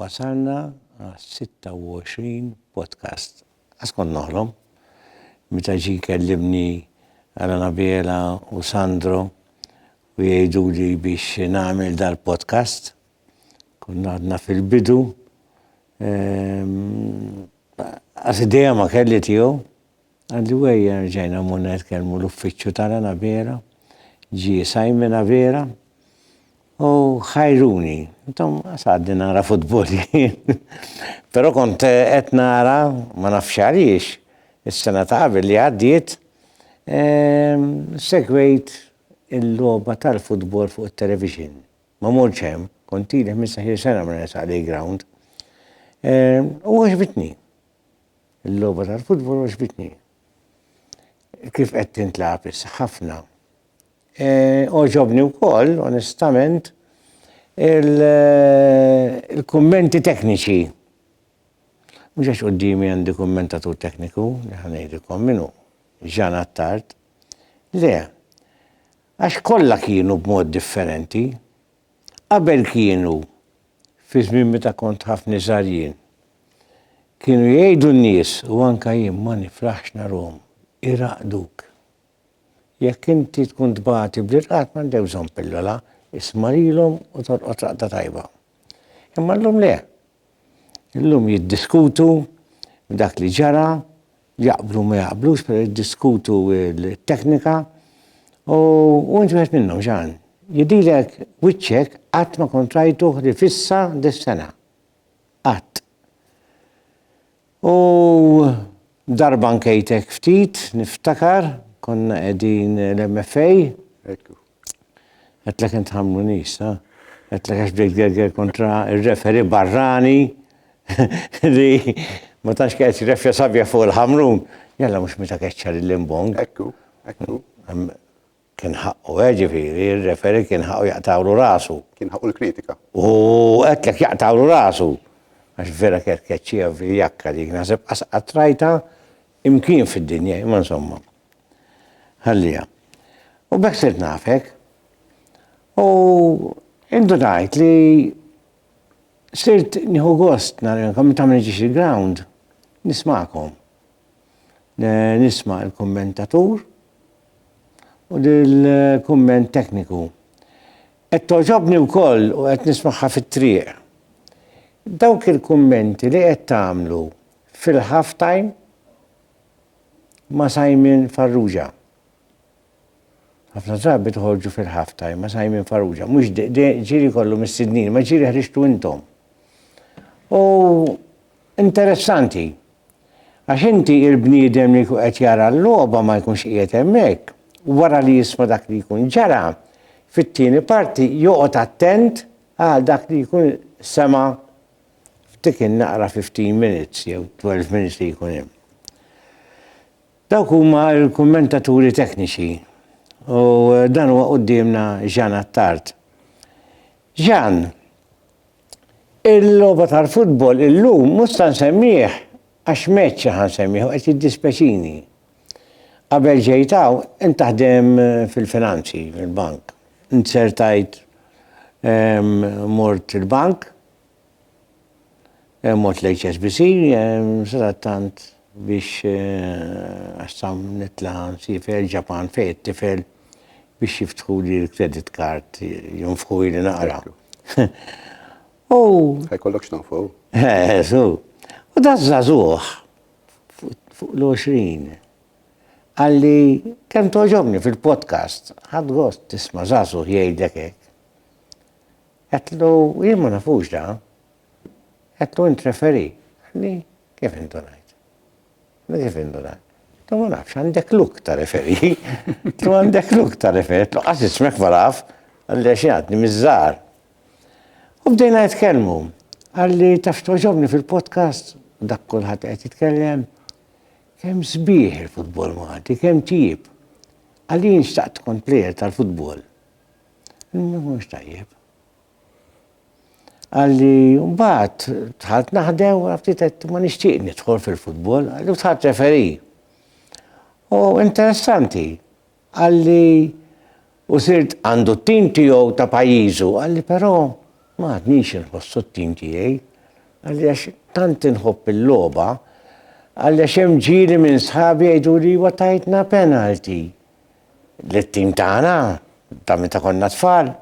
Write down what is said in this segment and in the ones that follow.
Wasalna għas-26 podcast. Qatt kont noħlom. Meta ġie jkellimni Alan Abela u Sandro u jgħiduli biex nagħmel dal-podcast, konna għadna fil-bidu, ehm, qas idea ma kelli tiegħu. Anyway, erġajna mmorna nitkellmu l-uffiċċju ta' Rana Vera, ġie Simon Avera u ħajruni. Intom għadni nara futbol jien. Però kont qed nara, ma nafx għaliex, is-sena ta' qabel li għaddiet, ehm, segwejt il-logħba tal-futbol fuq it-television. Ma mortx hemm, kont ili 15-il sena ma nersaq lejn ground. Ehm, u għaġbitni. Il-logħba tal-futbol għoġbitni. Kif qed tintlagħab issa ħafna. E, oġobni wkoll, onestament, il-kummenti tekniċi. Mhux għax qudiemi għandi kummentatur tekniku, li ħanejdilkom minnu, ġan attart. Le, għax kollha kienu b'mod differenti. Qabel kienu fi żmien meta kont ħafni żgħar jien. Kienu jgħidu n-nies u anke jien ma nifraħx narhom iraqduk. Jekk inti tkun tbati bl-irqad m'għandek bżonn pillola, isma' lilhom u torqod raqda tajba. Imma llum le. Illum jiddiskutu b'dak li ġara Jaqblu ma jaqblux, pero jiddiskutu t-teknika u inti wieħed minnhom Ġan. Jidhilek wiċċek qatt ma kont rajtuh li fissa dis-sena. Qatt. U darba nkejtek ftit, niftakar, konna qegħdin l-MFA. Għedtlek int ħamlu nies, ha? Għedtlek għax bdejt gerger kontra ir-referi barrani li ma tantx kienet jirrefja sabja fuq il-ħamrun. Jalla mhux meta keċċa lil Limbong. Ekku, ekku. Kien ħaqqu, eh, ġifieri, ir-referi kien ħaqqu jaqtawlu rasu. Kien ħaqqu l-kritika. U għedtlek jaqtawlu rasu. Għax vera kienet keċċija fil-jakka dik, naħseb qasqa trajta imkien fid-dinja, imma insomma. Ħalliha. U b'hekk sirt nafek. U indunajt li sirt nieħu gost narilkom meta ma niġix il-ground nismakom. Nisma' l-kummentatur u dil-kumment tekniku. Qed toġobni wkoll u qed nismagħha fit-triq. Dawk il-kummenti li qed tagħmlu fil-half time ma' Simon Farrugia. Ħafna drabi toħorġu fil-half time ma' Simon Farrugia. Mhux ġiri kollu mis-sidnin, ma ġiri ħriġtu intom. U interessanti. Għax inti il-bniedem li jkun qed jara l-logħba ma jkunx qiegħed hemmhekk. Wara li jisma' dak li jkun ġara, fit-tieni parti joqgħod attent għal dak li jkun sema' f'dik in-naqra fifteen minutes jew twelve minutes li jkun hemm. Dawk huma l-kummentaturi tekniċi u dan huwa quddiemna Jean Attard. Jean, il-logħba tal-futbol illum mhux se nsemmih għax match ħa nsemmih u qed jiddispeċini. Qabel ġejt hawn int taħdem fil-finanzi, fil-bank. Int sertajt mort il-bank, mort l-HSBC, sadattant biex għassam nitla nsifer Ġapan fej it-tifel biex jiftħu li l-credit card jonfħu li naqra. U. Ħajkollok x'tonfħu. Eżu. U da zazuħ. fuq l-20. Qalli kemm toġobni fil-podcast, ħadd gost tisma' żagħżugħ jgħidlek hekk. Għetlu, jien ma nafux da. Għetlu, int referi. Għalli, kif indunajt? Għalli, kif indunajt? Għetlu, ma nafx, għandek luk ta' referi. Għetlu, għandek luk ta' referi. Għetlu, għas ismek ma naf. Għalli, xie għadni, mizzar. U bdejna nitkellmu. Għalli taf toġobni fil-podcast, dak kulħadd qed jitkellem, kemm sbieħ il-futbol Malti, kemm tjib. Għalli jien xtaqt tkun plejer tal-futbol. Mhux tajjeb. Għalli mbagħad tħalt naħdem u ftit qed ma nixtieq nidħol fil-futbol, għalli tħalt referi. U interessanti, Qal li hu sirt għandu t-tim tiegħu ta' pajjiżu, qal li però ma għadnix inħossu t-tim tiegħi. Qal li għax tant inħobb il-logħba, qal li għax hemm ġieli minn sħabi jgħiduli iwa tajtna penalty lit-tim tagħna ta' meta konna tfal,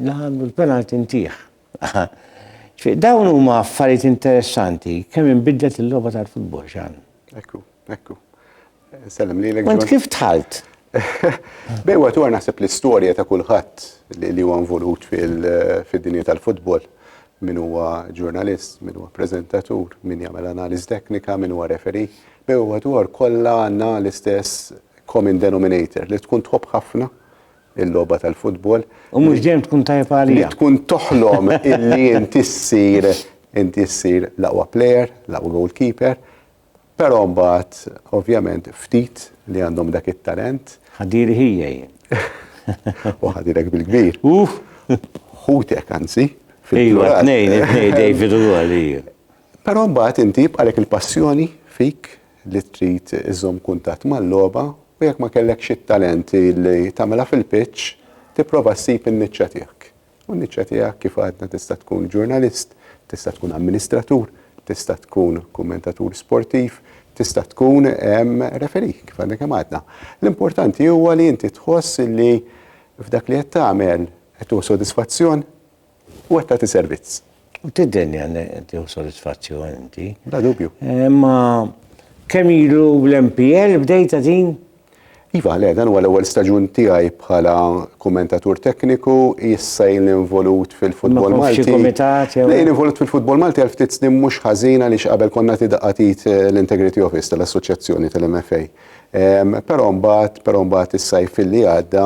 la għamlu l-penalty ntiegħ. Ġifieri dawn huma affarijiet interessanti kemm inbidlet il-logħba tal-futbol, Xan. Ekku, ekku. Nsellem lilek. Kont kif tħalt? Bej waqt wara naħseb l-istorja ta' kulħadd li huwa involut fid-dinja tal-futbol min huwa ġurnalist, min huwa preżentatur, min jagħmel analiż teknika, min huwa referi, bej huwa dwar kollha għandna l-istess common denominator li tkun tħobb ħafna il-logħba tal-futbol. U mhux dejjem tkun tajjeb għalija. Tkun toħlom illi inti ssir inti ssir l-aqwa player, l-aqwa goalkeeper, Però mbagħad ovvjament ftit li għandhom dak it-talent. Ħadiri ħija jien. U ħadirek bil-kbir. Uff! Ħutek anzi. Ejwa, tnejn, tnejn David u għalija. Però mbagħad inti jibqalek il-passjoni fik li trid iżżomm kuntatt mal-logħba u jekk ma kellekx it-talent li tagħmilha fil-pitch, tipprova ssib in-niċċa tiegħek. U n-niċċa tiegħek kif għadna tista' tkun ġurnalist, tista' tkun amministratur, tista' tkun kummentatur sportiv, tista' tkun referi kif għadna kemm għadna. L-importanti huwa li inti tħoss li f'dak li qed tagħmel qed tuħu sodisfazzjon u qed tagħti servizz. U tiddenni għanne tiħu soddisfazzjon inti. Da dubju. Eh, ma kemm ilu l-MPL bdejta din? Iva, le, dan huwa l-ewwel staġun tiegħi bħala kummentatur tekniku, issa jien involut fil-futbol Malti. Lejn involut fil-futbol Malti għal ftit snin mhux ħażin għaliex qabel konna tidaqatit eh, l-Integrity Office tal-Assoċjazzjoni tal-MFA. Però mbagħad, però mbagħad is-sajf li għadda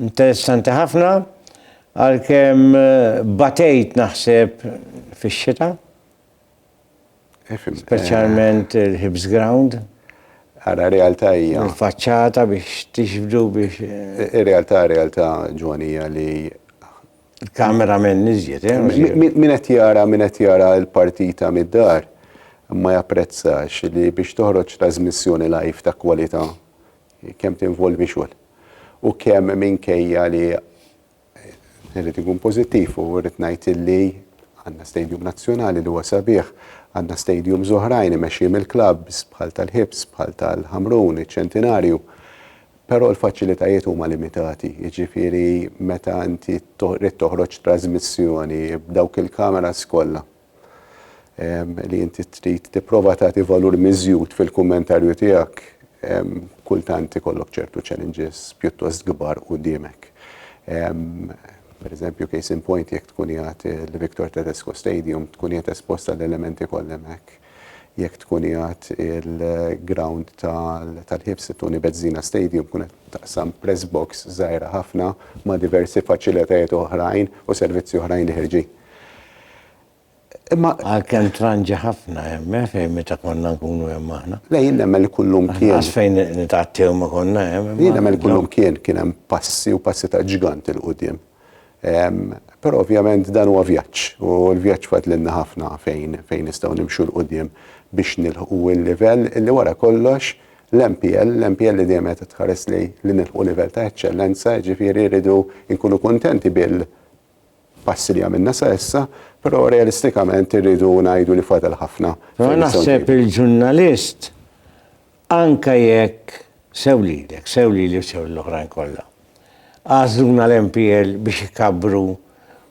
Interessanti ħafna, għalkemm batejt naħseb fix-xita. Speċjalment il-Hibs Ground. Ara realtà hija. Il-faċċata biex tixbdu biex. Ir-realtà realtà ġwanija li kamera minn nizjet, eh? Min qed jara, min qed jara l-partita mid-dar, ma japprezzax li biex toħroġ trasmissjoni live ta' kwalità kemm tinvolvi xogħol u kemm minkejja li irrid ikun pożittiv u rrid ngħid illi għandna stadium nazzjonali li huwa sabiħ, għandna stadium oħrajn imexxi mill-klabs bħal tal-ħibs, bħal tal-ħamrun, iċ-ċentinarju. Però l-faċilitajiet huma limitati, jiġifieri meta inti rrid toħroġ trasmissjoni b'dawk il-kameras kollha li inti trid tipprova tagħti valur miżjud fil-kummentarju tiegħek, kultant ikollok ċertu challenges pjuttost kbar qudiemek. Per eżempju, case in point, jekk tkun jgħat il-Victor Tedesco Stadium, tkun jgħat esposta l-elementi kollha hemmhekk. Jekk tkun jgħat il-ground tal-ħibs Tony Bezzina Stadium, tkun qed taqsam press box żgħira ħafna ma' diversi faċilitajiet oħrajn u servizzi oħrajn li ħerġin. Imma. Għad kemm tranġi ħafna hemm, eh, fejn meta konna nkunu hemm aħna. Le jien nemmen li kullum kien. Lanqas fejn nitgħattew ma konna hemm. Jien nemmen li kullum kien kien hemm passi u passi ta' ġgant 'il quddiem. Però ovvjament dan huwa vjaġġ u l-vjaġġ fadlilna ħafna fejn fejn nistgħu nimxu 'l quddiem biex nilħqu l-livell li wara kollox l-MPL, l-MPL li dejjem qed tħares lejn li nilħqu livell ta' eċċellenza, jiġifieri rridu nkunu kuntenti bil, passi li għamilna sa issa, però realistikament irridu ngħidu li fadal ħafna. Però naħseb il-ġurnalist anke jekk sew lilek, sew lili u sew l-oħrajn kollha. Għażluna l-MPL biex ikabbru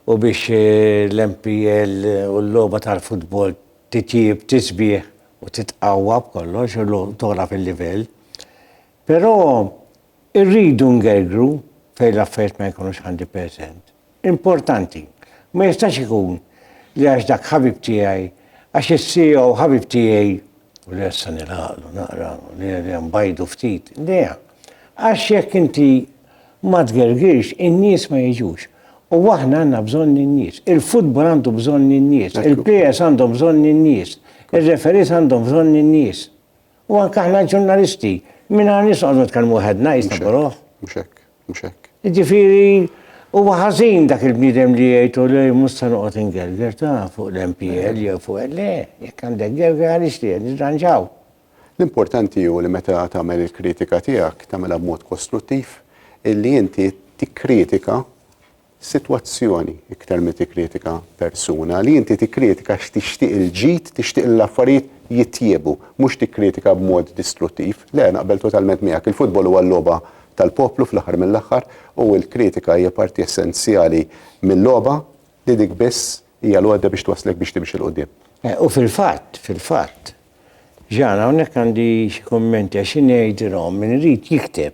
u biex eh, l-MPL u l-logħba tal-futbol titjib, tisbieħ u titqawwa b'kollox u tola fil-livell. Però Irridu ngergru fejn l-affarijiet ma jkunux għandi preżent. Importanti. Ma jistax ikun li għax dak ħabib tiegħi, għax is-CEO ħabib tiegħi, u li issa nilgħaqlu naqra, li nbajdu ftit, le, għax jekk inti ma tgergirx, in-nies ma jiġux. U aħna għandna bżonn lin-nies. Il-futbol għandu bżonn lin-nies. Il-plejers għandhom bżonn lin-nies. Ir-referees għandhom bżonn lin-nies. U anke aħna ġurnalisti, minn għan nisqogħdu nitkellmu waħedna jisna boroħ. Mhux hekk, mhux hekk. Ġifieri huwa ħażin dak il-bniedem li jgħidu li mhux se noqgħod ingerger ta' fuq l-MPL jew fuq le, jekk għandek gerger għaliex li nirranġaw. L-importanti hu li meta tagħmel il-kritika tiegħek tagħmilha b'mod kostruttiv illi inti tikkritika sitwazzjoni iktar mi tikkritika persuna, li inti tikkritika għax tixtieq il-ġid, tixtieq li l-affarijiet jitjiebu, mhux tikkritika b'mod distruttiv. Le, naqbel totalment miegħek. Il-futbol huwa l-logħba tal-poplu fl-aħħar mill-aħħar u l-kritika hija parti essenzjali mil-logħba li dik biss hija l-għodda biex twasslek biex timxi 'l quddiem. U fil-fatt, fil-fatt, Ġan, hawnhekk għandi xi kummenti għax xi ngħidilhom min irid jikteb,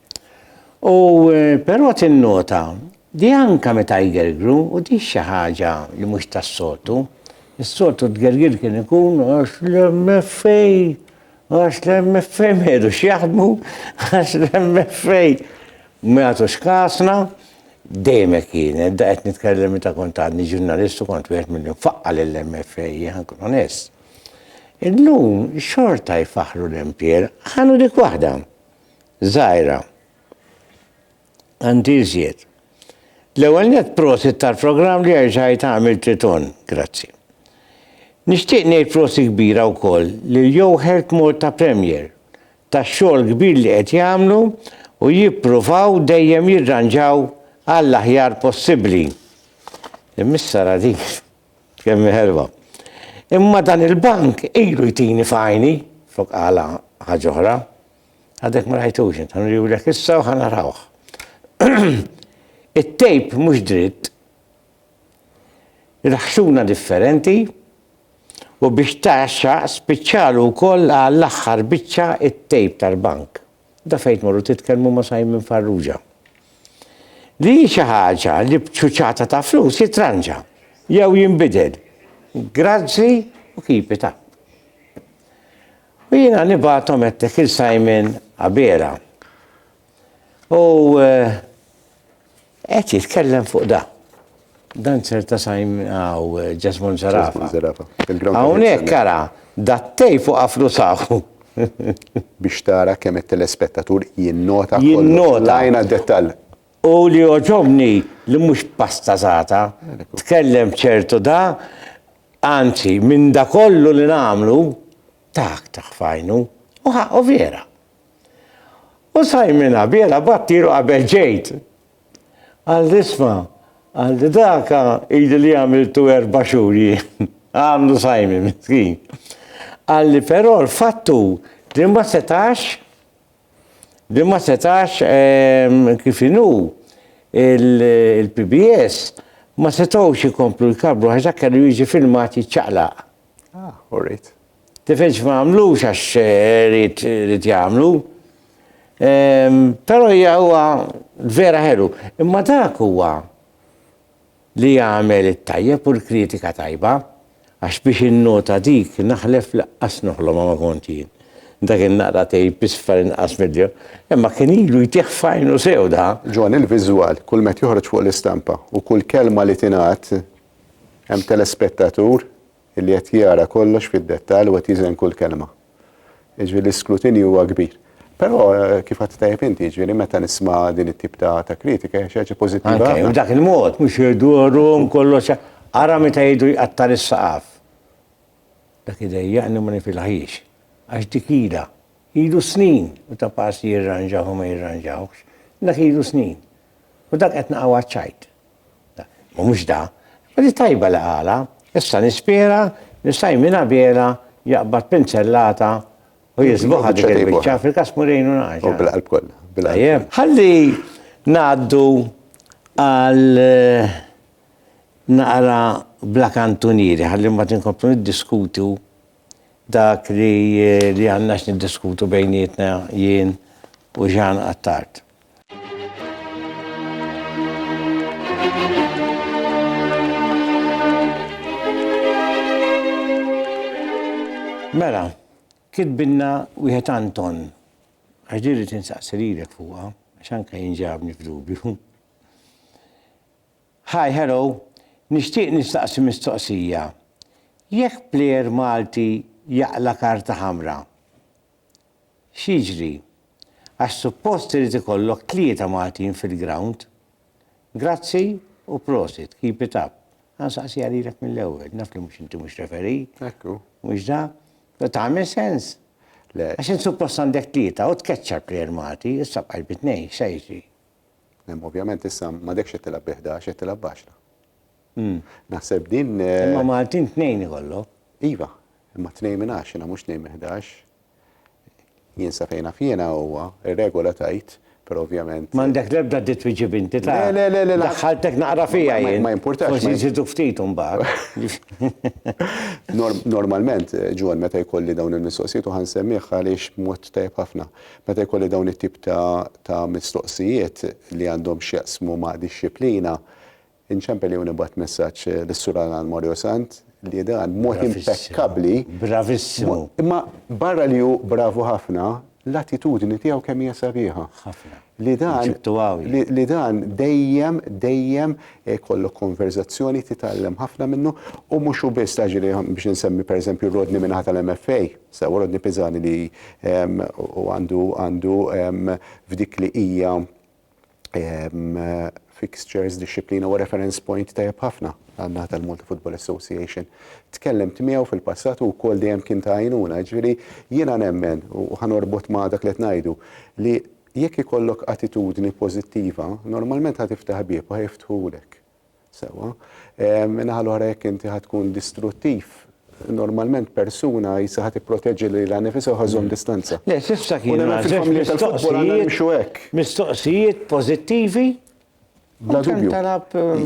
U però tinnota li anke meta jgergru, u di xi ħaġa li mhux tas-soltu, is-soltu t-tgergir kien ikun għax l-MFA, għax l-MFA ma jridux jaħdmu, għax l-MFA ma jagħtux kasna, dejjem hekk kien, da qed nitkellem meta kont għadni ġurnalist u kont wieħed milli nfaqqa' lill-MFA, jien ħa nkun onest. Illum xorta jfaħħru l-MPL, ħa nieħu dik waħda. żgħira. Għandi iżjed. L-ewwel net prosit tal-programm li jerġa' jitgħamil Triton. Grazzi. Nixtieq ngħid prosi kbira wkoll lil Joe Hertmore ta' Premier tax-xogħol kbir li qed jagħmlu u jippruvaw dejjem jirranġaw għall-aħjar possibbli. Imma issa ra dik. Kemm ħelwa. Imma dan il-bank ilu jtini f'għajni, flok qala ħaġa oħra. Għadek ma rajtux int, ħanuriwlek issa u ħanarawh. It-tejp mhux dritt, il-ħxuna differenti, u biex taxxa spiċċalu wkoll għall-aħħar biċċa it-tejp tal-bank. Da fejn tmorru titkellmu ma' Simon Farrugia. Li hi xi ħaġa li b'ċuċata ta' flus jitranġa, jew jinbidel. Grazzi u keep it up. U jiena nibgħathom għedtek il Simon Abela. U. Qed jitkellem fuq da. Dancer ta' Simon għaw Ġasmon Zarafa. Hawnhekk ara dattej fuq afru saħu. Biex tara kemm it-telespettatur jinnota jinnota għajna dettal. U li oġobni li mhux pasta zata, tkellem ċertu da, anzi minn da kollu li nagħmlu, tak taħfajnu, u ħaqqu vera. U Simon Abjela battilu qabel ġejt. Għal disma, għal di daka ili li għamiltu erba xhur jien. Għamlu Simon, miskin. Għalli però l-fattu li ma setax li ma setax ehm, kif inu il-PBS ma setgħux ikomplu l-kabru għax dak kellu jiġi filmat jiċċaqlaq. Ah, all right. Tifilx ma għamlux għax rrit eh, jagħmlu. Ehm, però hija huwa vera ħelu. Imma dak huwa li jagħmel it-tajjeb u l-kritika tajba għax biex innota dik naħlef laqqas noħlom ma kont jien. Dak in-naqra tej bisfar inqas mill imma kien ilu jtieħ fajnu sew da. Ġon il-viżwal, kull met joħroġ fuq l-istampa u kull kelma li tingħad hemm telespettatur li qed jara kollox fid-dettall u qed jiżen kull kelma. Jiġifieri l-iskrutinju huwa kbir. Però eh, kif għad tajjeb inti, jiġifieri meta nisma' din it-tip ta' ta' kritika hija xi ħaġa pożittiva. Anke, ħafna. b'dak il-mod, mhux irdurum kollox. Ara meta jidru jqatta' lis-saqaf. Dak idejjaqni u ma nifilħiex. Għax dik ilha. Ilu snin u ta' pass jirranġah u ma jirranġahx. Dak ilu snin. U dak qed naqgħu għaċ-ċajt. Ma mhux da. Imma di tajba li qalha. Issa nispera li Simon Abela jaqbad pinzellata u jiżbuħha dik il-biċċa, fil-każ Mourinho naqgħadx. U bil-qalb kollha. Tajjeb. Ħalli ngħaddu għal naqra bla kantunieri, ħalli mbagħad inkomplu niddiskutu dak li għandna x'niddiskutu bejnietna jien u Jean Attard. Mela, kitbilna wieħed Anton, għax diri tinsaqsi lilek fuqha, għax anke jinġabni f'dubju. Hi, hello, nixtieq nistaqsi mistoqsija. Jekk plejer Malti jaqla karta ħamra, X'jiġri? Għax suppost irid ikollok tlieta Maltin fil-grawnd? Grazzi u prosit, keep it up. Ħa nsaqsiha lilek mill-ewwel, naf li mhux inti mhux referee. Hekk hu. Mhux da? Tagħmel sens? Le. Għax int suppost għandek tlieta u tkeċċa l-plejer Malti, issa bqajt bi tnejn, x'se jiġri? Ovvjament issa m'għadekx qed tilgħab bi ħdax, qed tilgħab b'għaxra. Naħseb din. Imma Maltin tnejn ikollok. Iva, imma tnejn minn għaxra mhux tnejn minn ħdax. Jien sa fejn naf jiena huwa, ir-regola tgħid, però ovvjament. M'għandek l-ebda dritt twiġġieb inti ta'. Le, le, le, le. Daħħaltek naqra fiha jien. Ma jimpurtax. Forsi nżidu ftit imbagħad. Normalment, Ġwann, meta jkolli dawn il-mistoqsijiet u ħansemmih għaliex b'mod tajjeb ħafna. Meta jkolli dawn it-tip ta' mistoqsijiet li għandhom x'jaqsmu ma' dixxiplina, Inċempel jew nibgħat messaġġ lis-Sur Alan Morio Sant li dan b'mod impekkabbli. Bravissimu. Imma barra li hu bravu ħafna, l-attitudni tiegħu kemm hija sabiħa. Ħafna. Li dan li dan dejjem dejjem jkollok konverżazzjoni titgħallem ħafna minnu u mhux hu biss taġri biex insemmi pereżempju Rodni minn ħata l-MFA, sew Rodni Piżani li u għandu għandu f'dik li hija fixtures, dixxiplina huwa reference point tajjeb ħafna għan-naħa tal-Malta Football Association. Tkellimt miegħu fil-passat u wkoll dejjem kien ta' għajnuna, ġifieri jiena nemmen u ħanorbot ma' dak li qed ngħidu li jekk ikollok attitudni pożittiva, normalment ħa tiftaħ bieb u ħa jiftħulek. Sewwa. Min-naħa l-oħra jekk inti ħa tkun distruttiv, normalment persuna jisha ħa tipproteġi lilha nnifisha u ħa żżomm distanza. Le, s'issa kienu mistoqsijiet pożittivi. Bla dubju.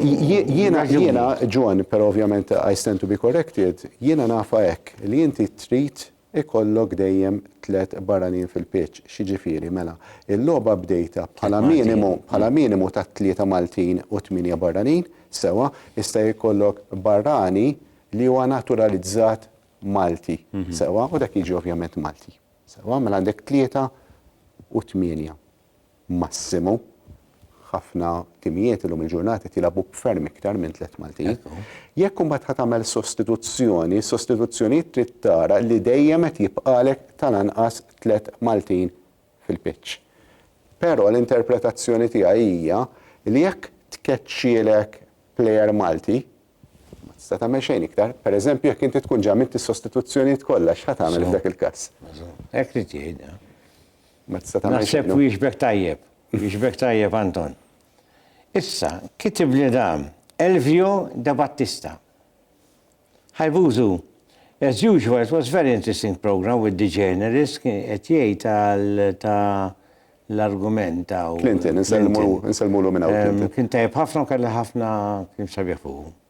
Jiena, jiena, John, però ovvjament I stand to be corrected, jiena nafa hekk li inti trid ikollok dejjem tliet barranin fil-pitch, x'jiġifieri, mela, il-logħba bdejtha bħala minimu, bħala minimu ta' tlieta Maltin u tmienja barranin, sewwa, jista' jkollok barrani li huwa naturalizzat Malti, sewwa, u dak jiġi ovvjament Malti, sewwa, mela għandek tlieta u tmienja. massimu. Ħafna timijiet illum il-ġurnata qed jilagħbu b'ferm iktar minn tliet Maltin. Jekk imbagħad ħa tagħmel sostituzzjoni, sostituzzjoni trid tara li dejjem qed jibqalek tal-anqas tliet Maltin fil-pitch. Però l-interpretazzjoni tiegħi hija li jekk tkeċċielek plejer Malti, ma tista' tagħmel xejn iktar. Pereżempju jekk inti tkun ġa għamilt is-sostituzzjonijiet kollha, x'ħa tagħmel f'dak il-każ? Hekk trid tieħidha. Ma tista' tagħmel xejn. Naħseb wieġbek tajjeb. Wieġbek tajjeb Anton. Issa, kitibli dan Elvio De Battista. Hi Bużu, as usual it was very interesting programme with the journalist qed jgħid għal ta' l-argument ta' Clinton, insellmulu minn hawn. Kien tajjeb ħafna u kelli ħafna kien sabiħ fuq.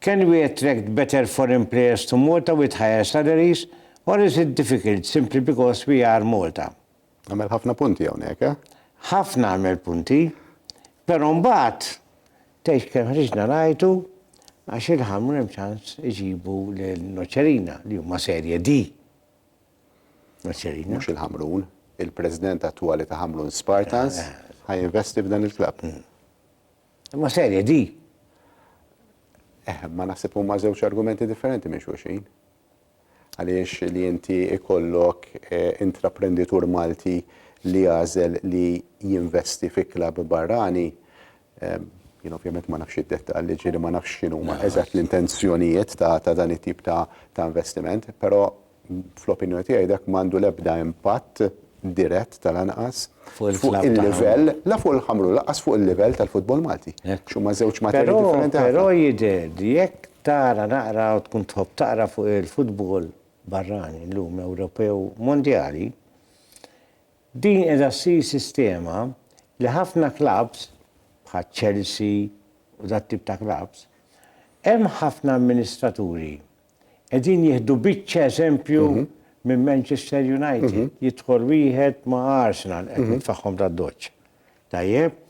Can we attract better foreign players to Malta with higher salaries or is it difficult simply because we are Malta? Għamel ħafna punti hawnhekk, eh? Ħafna għamel punti, però mbagħad tgħidx kemm ħriġna ngħajtu għax il-Ħamrun hemm ċans iġibu lil Noċerina li huma serje D. Noċerina. Mhux il-Ħamrun, il-President attwali ta' Ħamrun Spartans eh, eh. ħaj investi f'dan il-klabb. Hmm. Imma serje di! Eh, ma naħseb huma żewġ argumenti differenti minn xulxin. Għaliex li inti ikollok eh, intraprenditur Malti li jażel li jinvesti fi klab barrani, eh, jien ovvjament ma nafx id-dettalli, ġieli ma nafx x'inhuma eżatt l-intenzjonijiet ta' dan it-tip ta' investiment, però fl-opinjoni tiegħi dak m'għandu l-ebda impatt dirett tal-anqas fuq il-livell, la fuq il-ħamru, laqas fuq il-livell tal-futbol Malti. Xumma żewġ materji differenti. Però jidher li jekk tara naqra u tkun tħobb taqra fuq il-futbol barrani llum Ewropew mondjali, din qiegħda ssir sistema li ħafna klabbs bħal Chelsea u dat-tip ta' klabbs, hemm ħafna amministraturi Qegħdin jieħdu biċċa eżempju minn Manchester United. Jidħol wieħed ma' Arsenal, qed nitfagħhom tad-doċċ. Tajjeb?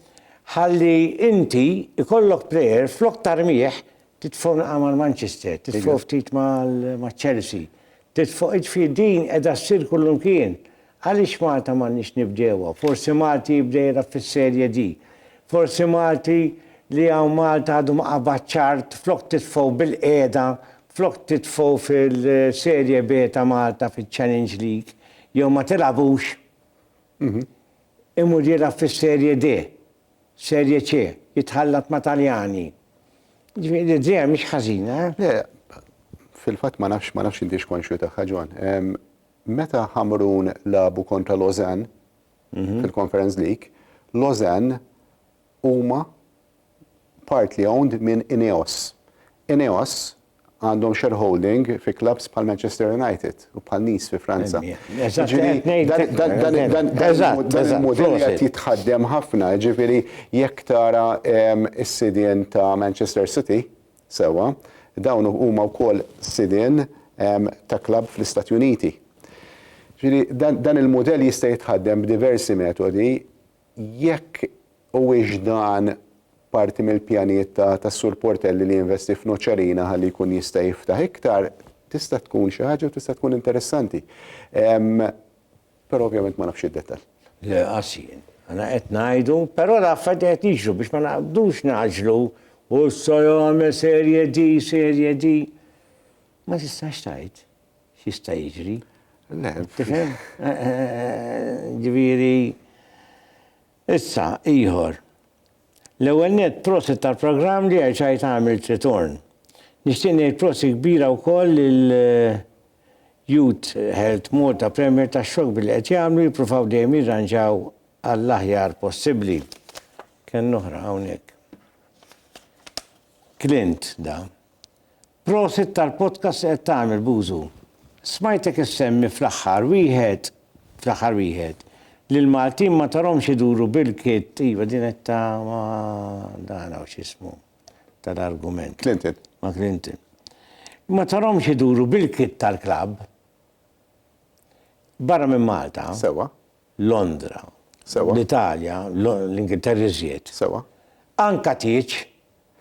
Ħalli inti jkollok plejer flok tarmih titfgħu naqra mal-Manchester, titfgħu ftit maċ-Chelsea, titfgħu, jiġifieri din qiegħda ssir kullimkien. Għaliex Malta m'għandniex nibdewha? Forsi Malti jibda jilgħab fis-Serie D. Forsi Malti li hawn Malta għadu ma qabad ċart flok titfgħu bil-qiegħda, flok titfgħu fil-Serie B ta' Malta fiċ-Challenge League, jew ma tilgħabux, imur jilgħab fis-Serie D, Serie C, jitħallat ma' Taljani. Jiġifieri l-idea mhix ħażina, eh? Le, fil-fatt ma nafx, ma nafx intix konxju tagħha, John. meta Ħamrun lagħbu kontra Lausanne fil-Conference League, Lausanne huma partly owned minn Ineos. Ineos għandhom shareholding fi clubs bħal Manchester United u bħal Nice fi Franza. Dan il-mudell qed jitħaddem ħafna, jiġifieri jekk tara s-sidien ta' Manchester City, Sewwa, dawn huma wkoll sidien ta' klabb fl-Istati Uniti. Ġifieri dan dan il-mudell jista' jitħaddem b'diversi metodi jekk huwiex dan parti mill-pjanijiet ta' tas-Sur Portelli li jinvesti f'Noċerina ħalli jkun jista' jiftaħ iktar, tista' tkun xi ħaġa u tista' tkun interessanti. Però ovvjament ma nafx id-detall. Le qas jien. Għana qed ngħidu, però l-affarijiet qed jiġru biex ma naqbdux naġlu u issa jagħmel serje di, serje di. Ma tistax tgħid x'jista' jiġri. Le, tifhem? Eh, eh, eh, ġifieri issa ieħor. L-ewwel net prosit tal-programm li għajt għamilt ritorn. Nixtieq ngħid prosi kbira wkoll il- Youth Health Malta Premier tax-xokk billi qed jagħmlu, jippruvaw dejjem jirranġaw għall-aħjar possibbli. Kellna oħra hawnhekk. Clint da. Prosit tal-podcast li qed tagħmel Bużu. Smajtek issemmi fl-aħħar wieħed fl-aħħar wieħed li l-Maltin ma tarhomx iduru bil-kit iva din qed ta' ma dan hawn x'ismu. tal-argument. Clinton. Ma' Clinton. Ma tarhomx iduru bil-kit tal-klabb barra minn Malta. Sewa. Londra. Sewa. L-Italja, l-Ingilterra iżjed. Sewa. Anka tieġ.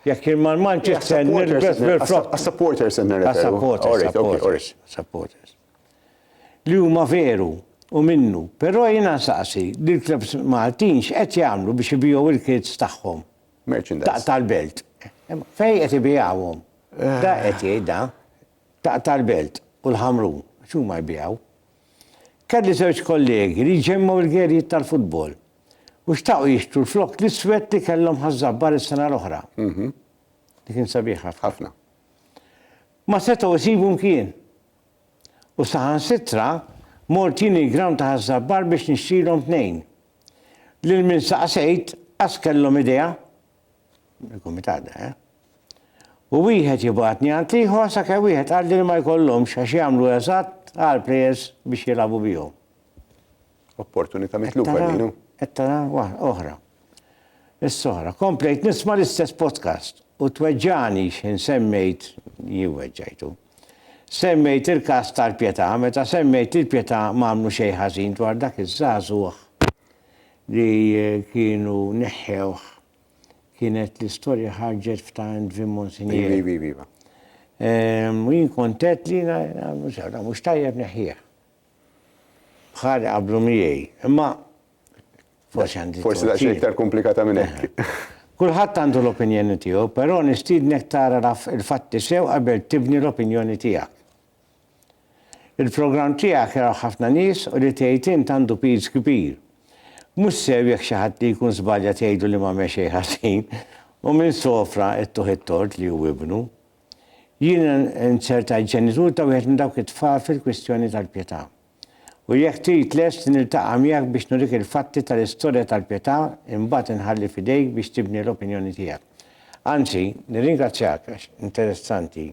Jekk jien mal-Manchester nilbes bil-flokk. Għas-supporters qed nirreferu. Għas-supporters. Supporters. Li huma veru u minnu, però jiena nsaqsi lill-klabbs Maltin x'qed jagħmlu biex ibigħu l-kits tagħhom. Merchandise. Tal-belt. Fejn qed ibigħuhom? Da qed jgħid da. Tal-belt u l-Ħamrun, għax huma jbigħu. Kelli żewġ kollegi li jġemmgħu l-gerijiet tal-futbol u xtaqu jixtru l-flokk l-iswed li kellhom ħaż-Żabbar is-sena l-oħra. Mhm. Li kien sabiħ ħafna. Ħafna. Ma setgħu jsibu mkien. U saħansitra mort jien il-ground ta' ħaż-Żabbar biex nixtrilhom tnejn. Lil min saqsejt qas kellhom idea, il-kumitat da, eh? U wieħed jibgħatni għand l-ieħor sakemm wieħed qalli li ma jkollhomx għax jagħmlu eżatt għal plejers biex jilagħbu bihom. Opportunità mitluba Qed tara- lilhom. Qed tara wa- oħra. Is-soħra. Komplejt nisma' l-istess podcast u tweġġagħni x'ħin semmejt jien weġġajtu. Semmejt il-każ tal-Pietà meta semmejt li l-Pietà m'għamlu xejn ħażin dwar dak iż-żagħżugħ li kienu neħħewh kienet l-istorja ħarġet f'Times Vim Monsigneri. Iva, iva, iva. U jien kont għedt li jiena nagħmlu sew, dan mhux tajjeb neħħieh. Bħali qablu miegħi. Imma Forsi għandi. Forsi daqsxejn iktar komplikata minn hekk. Kulħadd għandu l-opinjoni tiegħu, però nistiednek tara l-fatti sew qabel tibni l-opinjoni tiegħek. Il-programm tiegħek jaraw ħafna nies u li tgħid int għandu piż kbir. Mhux sew jekk xi ħadd li jkun żbalja tgħidu li m'għamel xejn ħażin u minn sofra ittuh it-tort li hu ibnu. Jien inzertajt ġenitur ta' wieħed minn dawk it-tfal fil-kwistjoni tal-pjetà. U jekk trid lest niltaqa' miegħek biex nurik il-fatti tal-istorja tal-Pietà, imbagħad inħalli f'idejk biex tibni l-opinjoni tiegħek. Anzi, nirringrazzjak għax interessanti.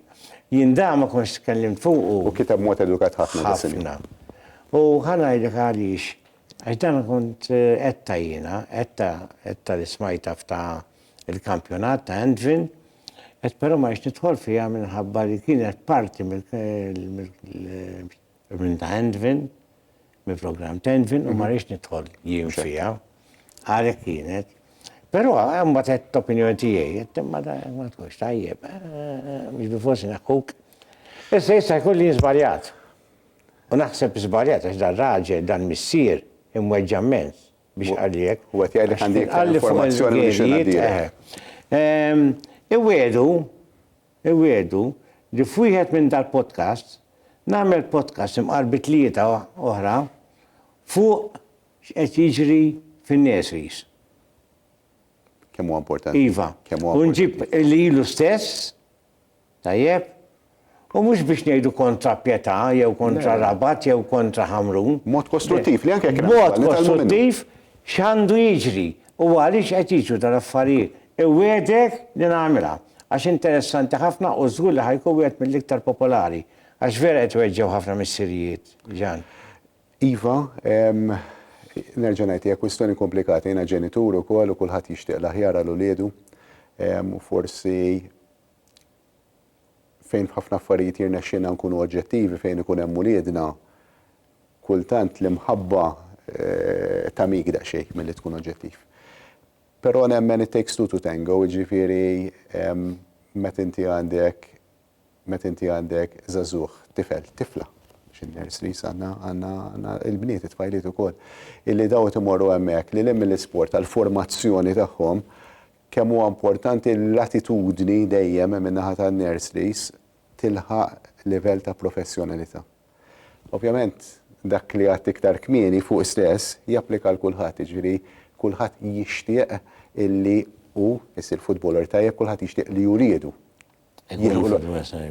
Jien dan ma kontx tkellimt fuqu. U kiteb b'mod edukat ħafna dak iż-żmien. Ħafna. U ħa ngħidlek għaliex, għax dan kont għedtha jiena, għedtha, għedtha li smajtha f'ta' il-kampjonat ta' Andvin, għedt però ma rridx nidħol fiha minħabba li kienet parti mill-, Min ta' Envin, mill-programm ta' Envin, u ma rridx nidħol jien fiha, għalhekk kienet. Però mbagħad qed opinjoni tiegħi, qed imma ma tkunx tajjeb, mhux bi forsi naħkuk. Issa jista' jkun li żbaljat. U naħseb żbaljat għax dan raġel, dan missier, imweġġa' mmens biex qalliek. U qed jgħidlek għandi informazzjoni li xi ngħaddilek. Iwiegħdu Iwiegħdu li f'wieħed minn dal-podcasts nagħmel podcast imqar bi tlieta oħra fuq x'qed jiġri fin-nurseries. Kemm huwa importanti. Iva. Kemm huwa importanti. U nġib lilu stess, tajjeb, U mhux biex ngħidu kontra Pjetà jew kontra Rabat jew kontra Ħamrun. Mod kostruttiv li anke kien. Mod kostruttiv x'għandu jiġri U għaliex qed jiġru dal-affarijiet? Iwiegħdek li nagħmilha, għax interessanti ħafna u żgur li ħa jkun wieħed mill-iktar popolari. Għax vera qed iweġġgħu ħafna missirijiet, Ġan. Iva, nerġa' ngħid, hija kwistjoni komplikata. Jiena ġenitur ukoll u kulħadd jixtieq l-aħjar għal uliedu u forsi fejn f'ħafna affarijiet jirnexxilna nkunu oġġettivi fejn ikun hemm uliedna, kultant l-imħabba tagħmik daqsxejn milli tkun oġġettiv. Però nemmen it takes two to tango, jiġifieri meta inti għandek meta inti għandek żagħżugħ, tifel, tifla, għax in-nurseries għandna għandna il-bniet, it-tfajliet ukoll, illi dawn qed imorru hemmhekk lil hinn mill-isport għall-formazzjoni tagħhom, kemm huwa importanti li l-attitudni dejjem min-naħa tan-nurseries tilħaq livell ta' professjonalità. Ovvjament, dak li għidt iktar kmieni fuq stess japplika għal kulħadd, jiġifieri kulħadd jixtieq illi hu jsir futboler tajjeb, kulħadd jixtieq li wliedu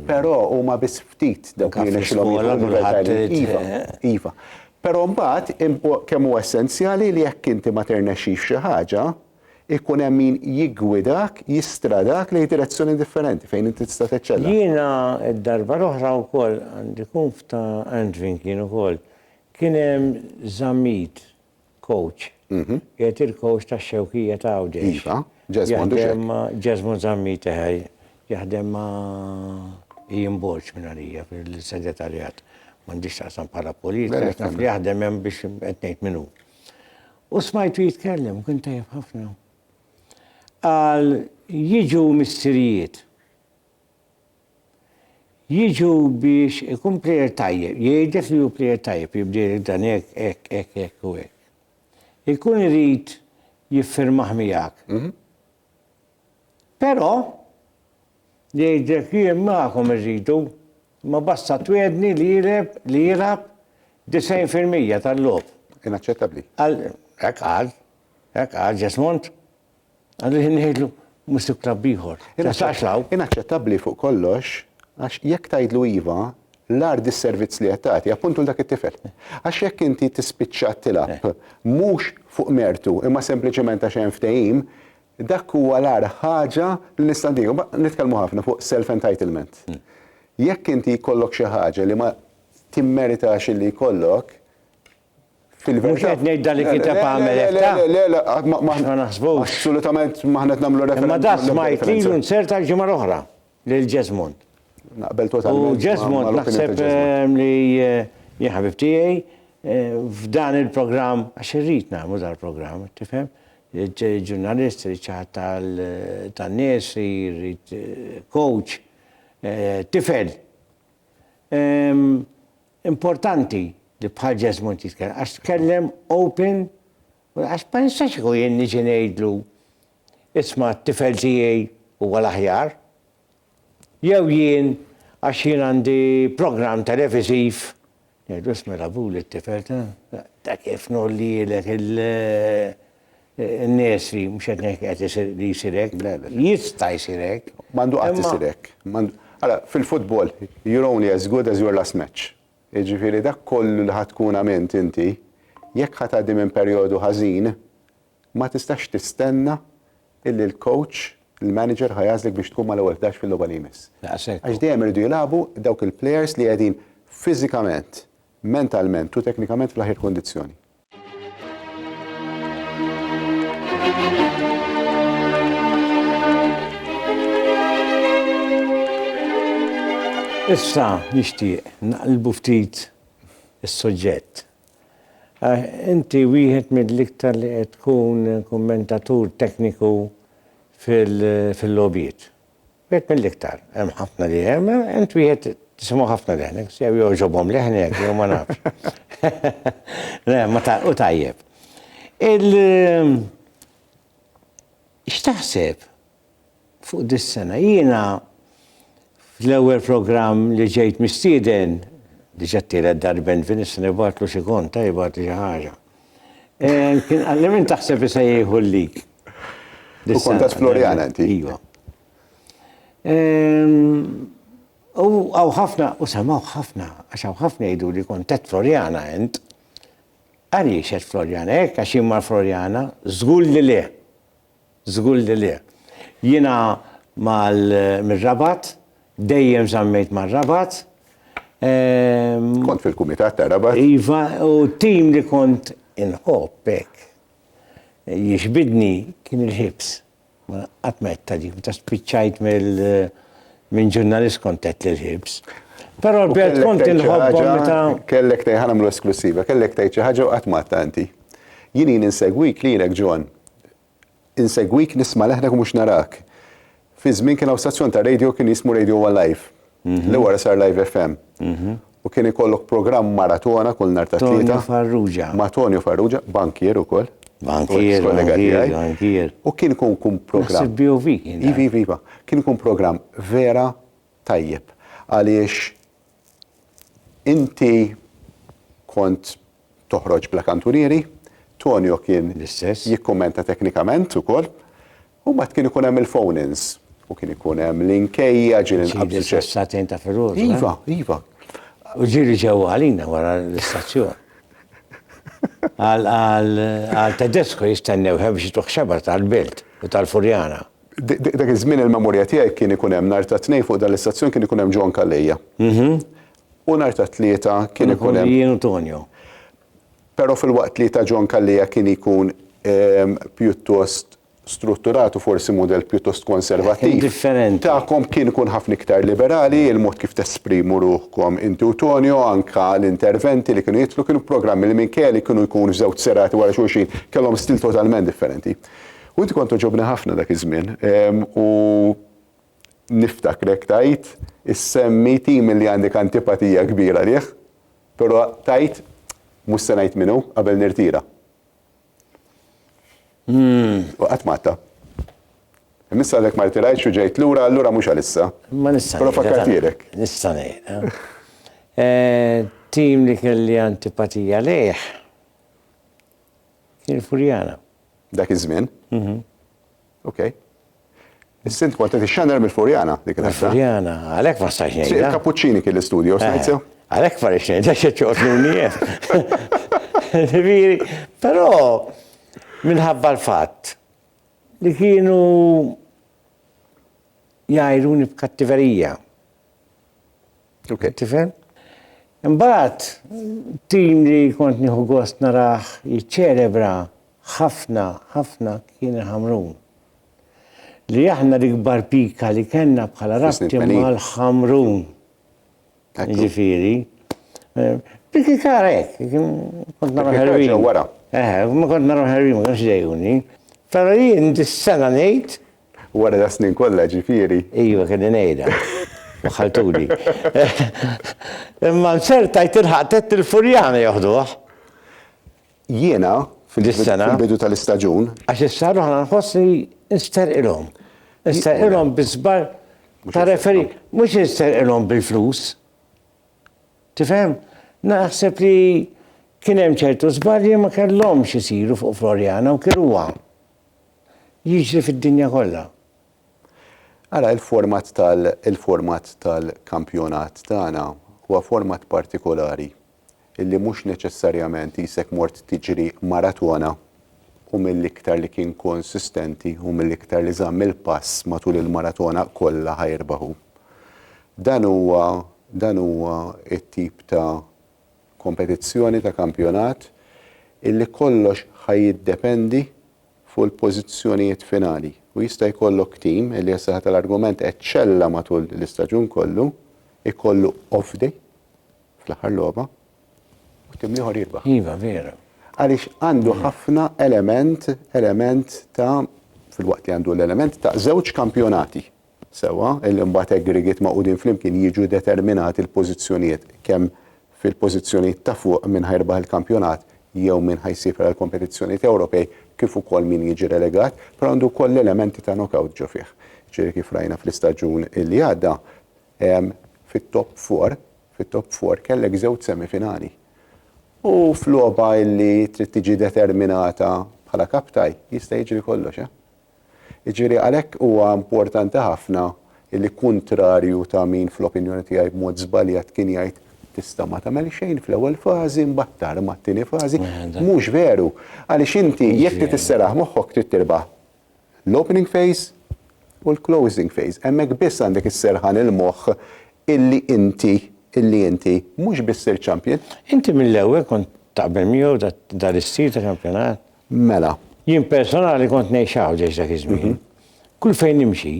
Però huma biss ftit dawk li nexilhom Iva, iva. Però mbagħad kemm huwa essenzjali li jekk inti ma ternexxix f'xi ħaġa, ikun hemm min jiggwidak, jistradak lejn direzzjoni differenti fejn inti tista' teċċella. Jiena d-darba l-oħra wkoll għandi kunf ta' Andvin kien ukoll. Kien hemm żammit Kowċ. Qiegħed il-kowċ tax-Xewkija ta' Għawdex. Iva, Jesmond u x'hekk. Jesmond Zammit eħe. Jaħdem ma' Ian Borg minn għalija fil-Segretarjat. M'għandix x'taqsam bħala politika għax naf li jaħdem hemm biex qed ngħid min hu. U smajtu jitkellem, kien tajjeb ħafna. Qal jiġu missirijiet Jiġu biex ikun plejer tajjeb, jgħidlek li hu plejer tajjeb, jibdielek dan hekk, hekk, hekk, hekk u hekk. Ikun irid jiffirmah miegħek. Però jgħidlek jien magħkom irridu, imma basta twiegħdni li jilgħeb, li jilgħab 90 fil-mija tal-logħob. Inaċċettabbli. Qal, hekk qal, hekk qal Jesmond. Għalli ħin ngħidlu mhux sib klabb ieħor. Inaċċettabbli fuq kollox għax jekk tgħidlu iva, l-agħar dis-servizz li qed tagħti, appuntu lil dak it-tifel. Għax jekk inti tispiċċa tilgħab mhux fuq mertu imma sempliċement għax hemm ftehim, dak huwa l-agħar ħaġa li nista' ntihi. Imbagħad nitkellmu ħafna fuq self entitlement. Jekk inti jkollok xi ħaġa li ma timmeritax illi jkollok, Fil-verità. Mhux qed ngħid dan li kiteb għamel hekk ta. Le, le, le, ma naħsbux. Assolutament ma ħanet nagħmlu referenza. Ma dak smajt lilu nsert għal ġimgħa l-oħra lil Jesmond. Naqbel totalment. U Jesmond naħseb ehm, li eh, jien ħabib tiegħi eh, f'dan il-programm għax irrid nagħmlu dal-programm, tifhem? ġurnalist, riċaħat tal-nies, eh, coach, eh, tifel. Importanti li bħal Jesmond jitkellem għax tkellem open u għax ma nistax kieku jien niġi ngħidlu isma' t-tifel tiegħi huwa l-aħjar jew jien għax jien għandi programm televiżiv ngħidlu isma' l-abu lit-tifel ta' kif ngħollielek il n-nies li mhux qed ngħid qed isir li jsir hekk. Le, le. Jista' jsir hekk. M'għandu qatt isir hekk. M'għandu. Ara, fil-futbol, you're only as good as your last match. Jiġifieri dak kollu li ħa tkun għamilt inti, jekk ħa tgħaddi minn perjodu ħażin, ma tistax tistenna illi l-coach, il-manager ħa jagħżlek biex tkun mal-ewwel ħdax fil-logħba li jmiss. Daqshekk. Għax dejjem iridu jilagħbu dawk il-players li qegħdin fiżikament, mentalment u teknikament fl-aħjar kundizzjoni. Issa nixtieq naqlbu ftit is-suġġett. Eh, inti wieħed mill-iktar li qed tkun kummentatur tekniku fil-lobiet. Wieħed mill-iktar, hemm ħafna li hemm, int wieħed tisimgħu ħafna leħnek, jew jogħġobhom leħnek jew ma nafx. Le, ma ta' u tajjeb. Il x'taħseb fuq dis-sena jiena fl-ewwel programm li ġejt mistieden diġà tielet darben fin is-sena jbagħtlu xi kont tajba xi ħaġa. Eh, kien għalli minn taħseb li se jieħu l-lig. U kont ta' Floriana eh, inti. Iva. U għaw ħafna, u samaw ħafna, għax għaw ħafna jgħidu li kont ta' Floriana int. Għaliex qed Floriana, hekk għax jimmar Floriana, żgur li le. Żgur li le. Jiena mal mir-Rabat, dejjem żammejt mar-Rabat. Ehm. Kont fil-kumitat ta' Rabat? Iva, u t-tim li kont inħobb hekk, jixbidni, kien il-Hibs. Ma qatt ma għedtha di, meta spiċċajt mill minn ġurnalist kont għedt li l-Hibs. Però l-belt kont inħobbhom meta. Kellek tgħid, ħa nagħmlu esklussiva, kellek tgħid xi ħaġa u qatt ma għedtha inti. Jien ili nsegwik lilek John, Insegwik, nisma' leħnek u mhux narak. Fi żmien kien hawn stazzjon ta' radio kien jismu Radio One Live. Mhm. Li wara sar Live FM. Mhm. U kien ikollok programm maratona kull nhar ta' tlieta. Tonio Farrugia. Ma' Tonio Farrugia, bankier ukoll. Bankier, bankier, bankier. U kien ikun kun programm. BOV kien. Iva, iva, iva. Kien ikun programm vera tajjeb. Għaliex inti kont toħroġ bla kantunieri, Tonio kien jikkummenta teknikament ukoll, u mbagħad kien ikun hemm il-phone-ins u kien ikun hemm l-inkejja ġieli nqabżu ċe. Satin ta' firrur. Iva, iva. U ġieli ġew għalina wara l-istazzjon. Għal Tedesco jistennew biex jitruħ xabar tal-Belt u tal-Furjana. Dak iż-żmien il-memorja tiegħi kien ikun hemm nhar ta' tnejn fuq dan l-istazzjon kien ikun hemm John Calleja. Mhm. U nhar tat-Tlieta kien ikun hemm. Ikun jien u Tonio. Però filwaqt li ta' John Calleja kien ikun pjuttost strutturat u forsi mudell pjuttost konservattiv. Kien differenti. Tagħkom kien ikun ħafna iktar liberali, il-mod kif tesprimu ruħkom inti u Tonio, anke l-interventi li kienu jidħlu kienu programmi li minkejja li kienu jkunu f'żewġ serati wara xulxin, kellhom stil totalment differenti. U inti kont togħġobni ħafna dak iż-żmien u niftakrek tgħid issemmi tim li għandek antipatija kbira lih, però tgħid mhux se ngħid min hu qabel nirtira. Hmm, u qatt matta. Missa għalek ma rtirajtx u ġejt lura, allura mhux għalissa. Ma nista' Però fakkartirek. Nista' ngħid. Eh. Eh, tim li kelli antipatija lejh kien Furjana. Dak iż-żmien? Mhm. Ok. Is-sint kont qed ixxanner mill-Furjana dik il-ħaġa. Mill-Furjana, għalhekk ma stax ngħid. Il-Kapuċċini kien l-istudio, eh, smajt sew? Għalhekk ma rridx ngħid għax ċoqtnuni Ġifieri, però minħabba l-fatt li kienu jgħajruni b'kattiverija. Ok. Tifhem? Imbagħad tim li kont nieħu gost narah jiċċelebra ħafna ħafna kien il-Ħamrun. Li aħna l-ikbar pika li kellna bħala rabti mal-Ħamrun. Ġifieri. Eh, Piki kara hekk, kont nara ħerwin. Wara. Eh, ma kont nara ħerwin, ma kienx dejuni. Però jien dis-sena ngħid Wara das-snin kollha, ġifieri. Iva, kelli ngħidha. Waħħaltuli. Imma nzertajt tilħaq tgħid il-Furjana joħduh. Jiena, fil-bidu tal-istaġun. Għax issa ruħ aħna nħoss li nsterqilhom. Nsterqilhom bi żball ta' referee. Mhux nsterqilhom bil-flus. Tifhem? Naħseb li kien hemm ċertu żbalji ma kellhomx isiru fuq Floriana u kien huwa. jiġri fid-dinja kollha. Ara il-format tal il-format tal-kampjonat tagħna huwa format partikolari illi mhux neċessarjament qisek mort tiġri maratona u mill-iktar li kien konsistenti u mill-iktar li żamm il-pass matul il-maratona kollha ħa jirbaħu. Dan huwa dan huwa t-tip ta' kompetizzjoni ta' kampjonat illi kollox ħa jiddependi fuq il-pożizzjonijiet finali u jista' jkollok tim illi għas-saħħa tal-argument eċċella matul l-istaġun kollu, ikollu off day fl-aħħar logħba u tim l-ieħor jirbaħ. Iva, veru. Għaliex għandu ħafna element, element ta' filwaqt li għandu l-element ta' żewġ kampjonati. Sewwa, illi mbagħad aggregate magħqudin flimkien jiġu determinati l-pożizzjonijiet kemm fil-pożizzjonijiet ta' fuq min ħa jirbaħ il-kampjonat jew min ħa jsiefer għall-kompetizzjonijiet Ewropej kif ukoll min jiġi relegat, però għandu wkoll l-elementi ta' knock-out ġo fih. Ġifieri kif rajna fl-istaġun illi għadda, fit-top four, fit-top four kellek żewġ semifinali. U f'logħba illi trid tiġi determinata bħala cup tie, jista' jiġri kollox, eh? Jiġifieri għalhekk huwa importanti ħafna li kuntrarju ta' min fl-opinjoni tiegħi b'mod żbaljat kien jgħid tista' ma tagħmel xejn fl-ewwel fażi mbagħad tarma t-tieni fażi, mhux veru. Għaliex inti jekk trid isseraħ moħħok trid tirbaħ l-opening phase u l-closing phase. Hemmhekk biss għandek isserħan il-moħħ illi inti illi inti mhux biss sirt champion. Inti mill-ewwel kont taqbel miegħu dan l-istil ta' kampjonat? Mela. Jien personali kont ngħix Għawdex dak iż-żmien. Kull fejn nimxi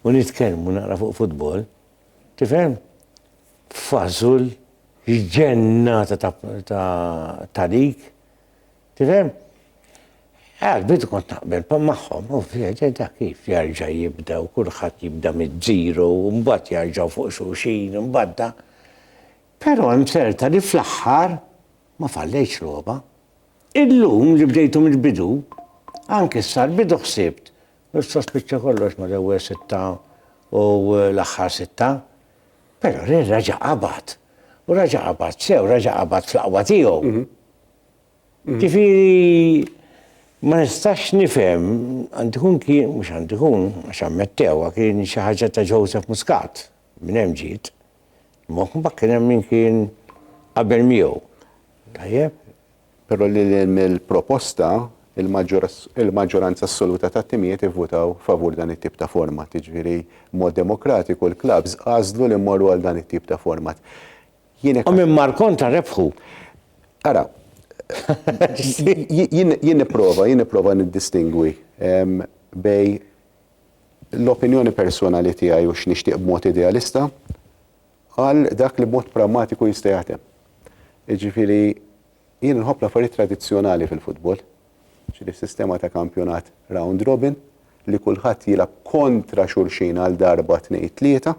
u nitkellmu naqra fuq futbol, tifhem? Fażul, ġġennata ta' dik. Tifhem? Għall-bidu kont naqbel magħhom, u fil-verità kif jerġa' jibda u kulħadd jibda miż-żero u mbagħad jerġgħu fuq xulxin u mbagħad da. Però hemm serta li fl-aħħar Ma fallejtx logħba. Illum li bdejtu mill-bidu, anke s-sal-bidu ħsibt, Issa spiċċa kollox mal-ewwel sitta u l-aħħar sitta. Però Real raġa' qabad. U raġa' qabad sew, raġa' qabad fl-aqwa tiegħu. Ġifieri ma nistax nifhem, għandu jkun kien, mhux għandu jkun, għax ammettewha, kien xi ħaġa ta' Joseph Muscat, Minn hemm ġiet. Imma mbagħad kien hemm min kien qabel miegħu. Tajjeb? Però lil hinn mill-proposta, il-maġġoranza assoluta tat-timijiet ivvutaw favur dan it-tip ta' format. Jiġifieri b'mod demokratiku l-klabbs għażlu li mmorru għal dan it-tip ta' format. Jien hekk. U minn mar kontra rebħu. Ara, jien nipprova, jien nipprova niddistingwi bejn l-opinjoni personali tiegħi u x'nixtieq b'mod idealista għal dak li b'mod prammatiku jista' jaħdem. Jiġifieri jien nħobb l-affarijiet tradizzjonali fil-futbol, ġifieri sistema ta' kampjonat round robin li kulħadd jilgħab kontra xulxin għal darba tnejn tlieta,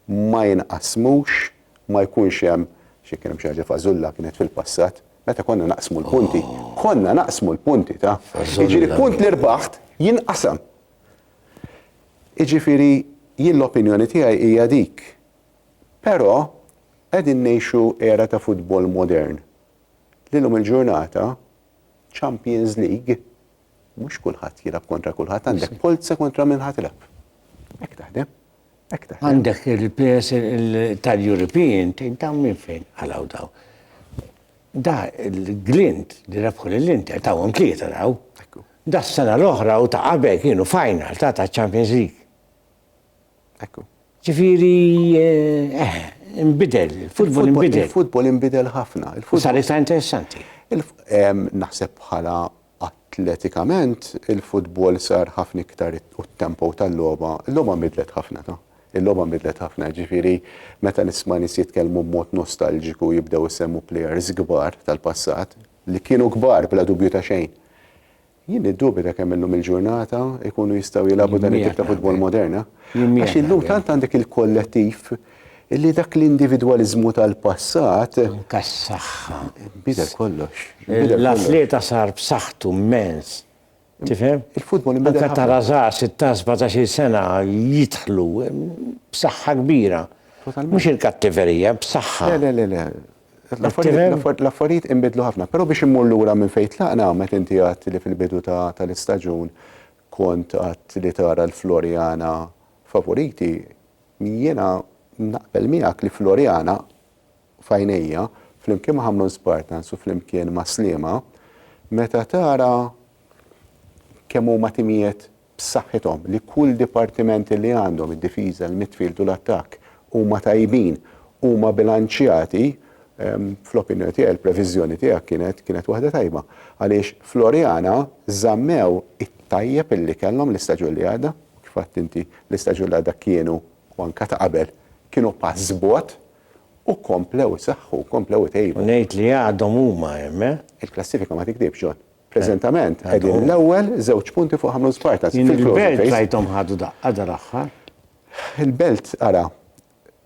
ma jinqasmux ma jkunx hemm xi kien hemm xi ħaġa fażulla kienet fil-passat, meta konna naqsmu l-punti, konna naqsmu l-punti ta'. Jiġifieri punt li rbaħt jinqasam. Jiġifieri jien l-opinjoni tiegħi hija dik. Però qegħdin ngħixu era ta' futbol modern li llum il-ġurnata Champions League mhux kulħadd jilgħab kontra kulħadd għandek polza kontra min ħadd tilgħab. Hekk taħdem. Għandek il-players tal-European, tgħid dawn minn fejn għalaw daw. Da l-glint li rebħu l-Inter tawhom tlieta daw. Da s-sena l-oħra u ta' qabel kienu final ta' ta' Champions League. Ekku. Ġifiri, eh, eh, imbidel, il-futbol imbidel. Il-futbol imbidel ħafna. Sar iktar interessanti. Naħseb bħala Atletikament, il-futbol sar ħafna iktar u t-tempo tal-logħba, il-logħba nbidlet ħafna ta. Il-logħba nbidlet ħafna, ġifieri meta nisma' nies jitkellmu b'mod nostalġiku jibdew isemmu plejers kbar tal-passat, li kienu kbar bla dubju ta' xejn. Jien niddubita kemm illum il-ġurnata jkunu jistgħu jilagħbu dan it-tip ta' futbol modern, ha? Għax illum tant għandek il-kollettiv, illi dak l-individwaliżmu tal-passat. Anke s-saħħa. Bidel kollox. L-atleta sar b'saħħtu mmens. Tifhem? Il-futbol imbidel. Anke tara żgħar 16-17-il sena jidħlu b'saħħa kbira. Mhux il-kattiverija, b'saħħa. Le, le, le. L-affarijiet inbidlu ħafna, però biex immur lura minn fejn tlaqna meta inti għadt li fil-bidu tal-istaġun kont għadt li tara l-Floriana favoriti, Jiena naqbel miegħek li Floriana, f'għajnejja, flimkien ma' Ħamrun Spartans u flimkien ma' Sliema, meta tara kemm huma timijiet b'saħħithom, li kull dipartiment li għandhom, id-difiża, il-midfield u l-attakk, huma tajbin, huma bilanċjati, fl-opinjoni tiegħi, l-previżjoni tiegħek kienet kienet waħda tajba. Għaliex Floriana żammew it-tajjeb li kellhom l-istaġun li għadda. kif għedt inti, l-istaġun ta' dak kienu u anke ta' qabel kienu pass bogħod u komplew isaħħu, komplew itejbu. U ngħid li għadhom huma hemm, eh? Il-klassifika ma tikdibx, John. Preżentament qegħdin l-ewwel żewġ punti fuq ħames partners. Jien il-Belt rajthom ħadu daqqa dal-aħħar. Il-Belt, ara,